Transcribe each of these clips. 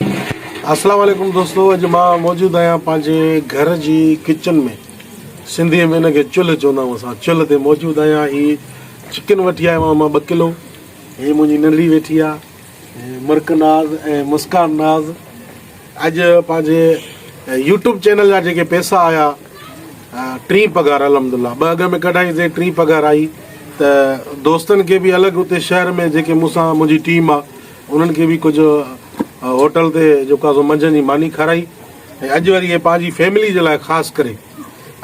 اسلام عليڪم دوستو اڄ مان موجود آهيان پنهنجي گهر جي ڪچن ۾ سنڌي ۾ ان کي چلهه چوندا آهيون اسان چلهه تي موجود آهيان هي چڪن وٺي آيو آهيان مان ٻه ڪلو هي منهنجي ننڍڙي ويٺي آهي مرڪ ناز ۽ مسڪان ناز اڄ پنهنجي يوٽيوب چينل جا جيڪي پيسا آيا ٽي پگهار الحمد لله ٻه اڳ ۾ ڪڍائيسي ٽي پگهار آئي ته دوستن کي بي الڳ اتي شهر ۾ جيڪي مون سان منهنجي ٽيم آهي انهن کي به ڪجهه هوٽل تي جيڪو آهي سو منجهند جي ماني کارائي ۽ اڄ وري اهي پنهنجي فيملي جي لاء خاص ڪري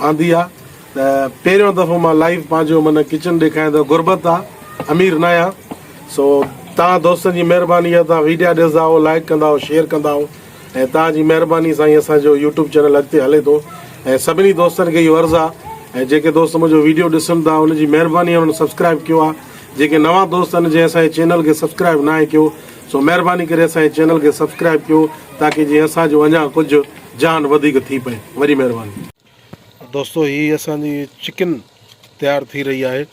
آندي آهي ته پهريون دفعو مان لائيو پنهنجو من ڪچن ڏيکاريان ته غربت آهي امير نه آهيان سو توهان دوستن جي مهرباني آهي توهان ويڊيا ڏسندا آهو لائيڪ ڪندا آهو شيئر ڪندا آهو ۽ توهان جي مهرباني سان ئي اسان جو يوٽيوب چينل اڳتي هلي ٿو ۽ سڀني دوستن کي اهو عرض آهي ۽ جيڪي دوست منهنجو ويڊيو ڏسن ٿا ان جي مهرباني آهي انهن سبسڪرائيب ڪيو آهي جيڪي نوان دوست آھن جنھن اسان جي چينل کي سبسڪرائب ناھي ڪيو سو مھرباني ڪري اسان جي چينل کي سبسڪرائب ڪيو تاڪي جيئن اسان جو اڃا ڪجھ جان وڌيڪ ٿي پئي وڏي مھرباني. دوستو ھي اسان جي چڪن تيار ٿي رھي آھي.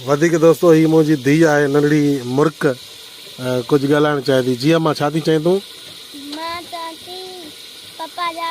وڌيڪ دوستو هي منهنجي ڌي آهي ننڍڙي مرڪ ڪجهه ڳالهائڻ چاهي ٿي جي اما ڇا ٿي چئين تون مان چوان ٿي پپا جا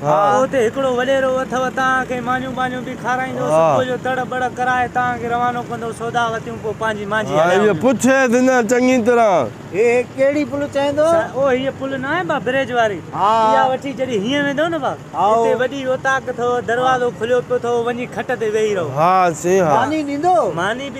پوء اتي هڪڙو وڏيرو اٿئو، توهان کي مانيون ٻانيون به کارائيندو، صبح جو تڙ ٻڙ ڪرائي توهان کي روانو ڪندو، سودا وتيون پوء پنهنجي مانجهي هليا وڃو. پڇيس هن چڱي طرح. هي ڪهڙي پل چئين ٿو؟ او هيء پل ناهي ڀا بريج واري، اها وٺي جڏهن هينئن ويندؤ نه ڀا، اتي وڏي اوطاق اٿئو، دروازو کليو پيو اٿئو، وڃي کٽ تي ويهي رهو. ها سين ها. ماني ڏيندو؟ ماني به.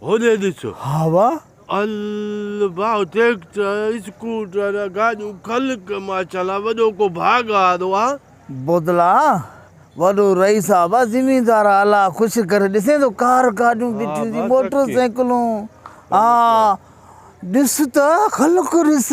هوڏي ڏس! هوا! الباء ٽريڪٽر، اسڪوٽر، گاڏيون خلق ماشاءالله وڏو ڪو ڀاڳ هارو آ. بودلا! وڏو رئيس صاحب آ، زميندار آ، الله خوش ڪري، ڏسين ٿو ڪار گاڏيون بيٺيون ٿي، موٽر سائيڪلون، ها! ڏس ته خلق ڏس!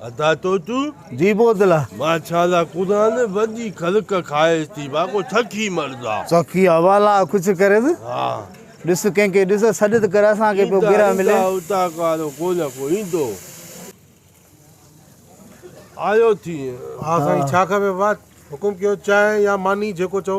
ادا تو تون جي بوتلا مان ڇالا قرآن وڏي خلق کائيس ٿي وا ڪو ڇڪي مردا ڇڪي حوالا کچ ڪري ٿي ها ڏس ڪنهن کي ڏس سڏت ڪر اسان کي پيو گرا ملي ادا ڪارو ڪو نه ڪو ايندو آيو ٿي ها سائين ڇا کپي وا حڪم ڪيو چانهه يا ماني جيڪو چئو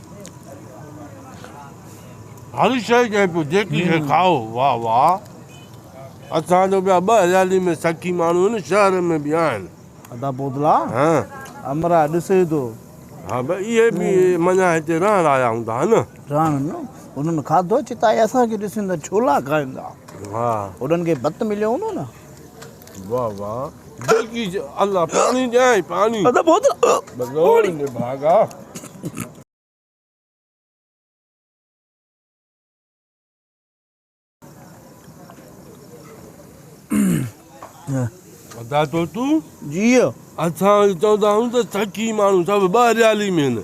هر شيء جنهن پيو جيڪي شيء کائو واهه واهه اسان جو ٻيا ٻه هليالي ۾ سکي ماڻهو هن شهر ۾ به آهن. ادا پوتلا امرا ڏسي ٿو. ها به اهي به مڃان هتي رهڻ آيا هوندا ها نه. رهڻ نه انهن کاڌو چتائي اسان کي ڏسين ته ڇولا کائين ٿا. ها. انهن کي ڀت مليو هوندو نه. واھ واھ بلڪي الله پاڻي ڏيانء پاڻي بگوڙ جي ڀاڳا. ادا طوطو جيء اسان چوندا آهيون ته سخي ماڻهو سڀ ٻهريالي ۾ هن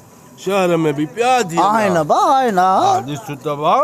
شهر ۾ به پيا ٿين ها آهن ابا آهن ها ڏس ته واھ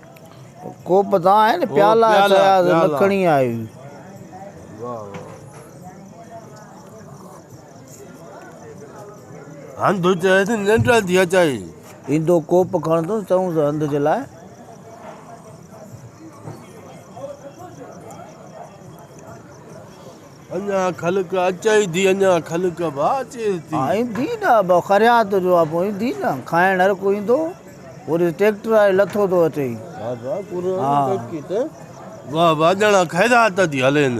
ڪوپ تان آهي نه پيالا آهي فياض نه کڻي آيو. هنڌ چئي ته ننڊ ٿي اچئي. ايندو ڪوپ کڻندس چئونس هنڌ جي لاء. اڃا خلق اچئي ٿي اڃا خلق به اچئي ٿي. ائين ٿي نه ابا خريات جو ابو ائين ٿي نه کائڻ هر ڪو ايندو وري ٽيڪٽر آهي لٿو ٿو اچي. بابا قرآن ترقي ته واهه واهه ڄڻا خيرات ٿي هلين.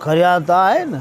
خريات آهي نه.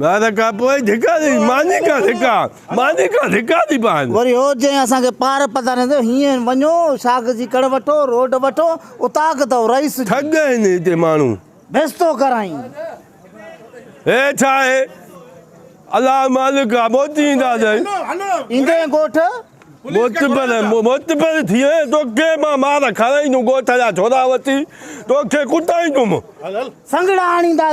ٻار کان پوء ڌڪا ڏئي، ماني کان ڌڪا، ماني کان ڌڪا ڏئي پاڻ. وري هو چيائين اسان کي پار پتارين ٿو، هينئن وڃو، شاخ جي ڪڙ وٺو، روڊ وٺو، اتاڪ اٿئو، رئيس جي. ٺڳ آهن هتي ماڻهو. بيستو ڪرائين. هي ڇا آهي؟ الله مالڪ آ، موت جي انداز آهي. ايندي ڳوٺ. معتبر، معتبر ٿي وئين، توکي مان مار کارائيندم، ڳوٺ جا ڇورا وٺي توکي ڪٽائيندم. سنگهڙا آڻيندا.